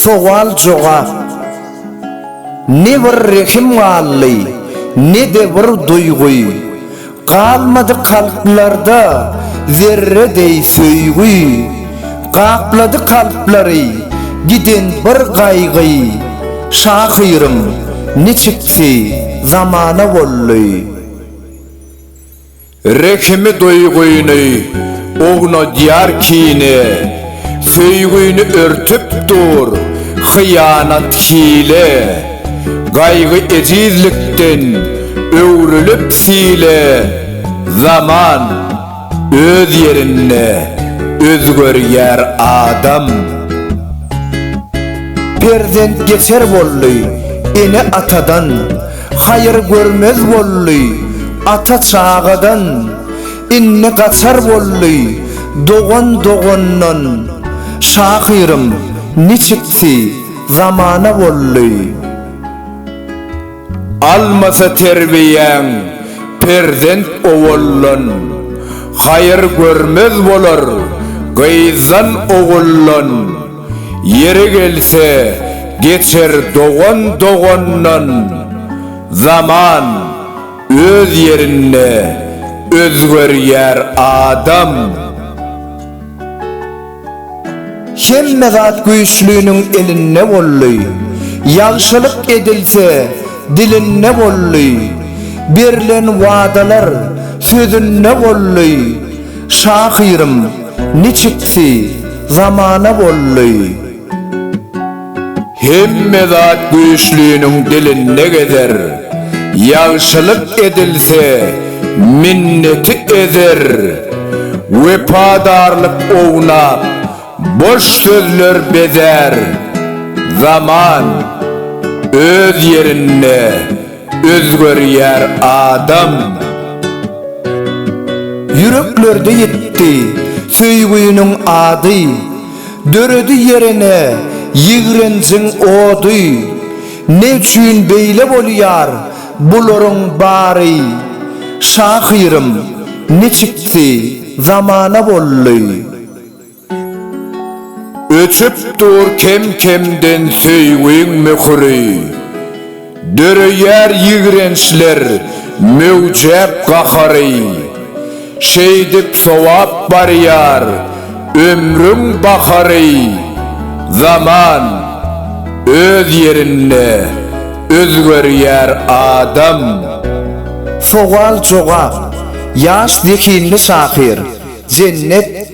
Sowal jogap Ne bir rehim galdy, ne-de bir duýgy, Galmady kalplarda zerre deý söýgi. Gaplady kalplary giden bir gaýgy, Şahyryň niçiksi zamana boldy. Rehimi duýgyny ownadýar kine, Söýgini örtüp dur hyýanat hile. Gaýgy ejizlikden öwrülip sile, Zaman öz ýerinde özgerýär adam. Perzent geçer boldy ene-atadan. Haýyr görmez boldy ata çagadan, Inni gaçar boldy dogan dogandan. Şahyrym niçiksi zamana boldy. Almasa terbiýäň perzent owaldan, Haýyr görmez bolar gyzdan oguldan. Ýeri gelse, geçer dogan dogandan, Zaman, öz ýerinde, özgerýär adam. Hemme zat güýçliniň elinde boldy, Ýagşylyk edilse, dilinde boldy, Berlen wadalar, sözünde boldy. Şahyrym niçiksi zamana boldy. Hemme zat güýçliniň dilinde gezer, Ýagşylyk edilse, minneti ezer. Wepadarlyk ownap, boş sözler bezär, Zaman öz ýerinde. Özgerýär adam. Ýüreklerde ýitdi söýgüniň ady, Döredi ýerine ýigrenjiň ody. Ne üçin beýle bolýar bularyň bary? Şahyrym, niçiksi zamana boldy? Öçüp dur kem-kemden söýgiň möhüri, Döreýär ýigrençler möwjäp gahary. Şeýdip sowap barýar ömrüň bahary, Zaman öz ýerinde özgerýär adam. Sowal-jogap, Ýaş zehinli şahyr, Jennet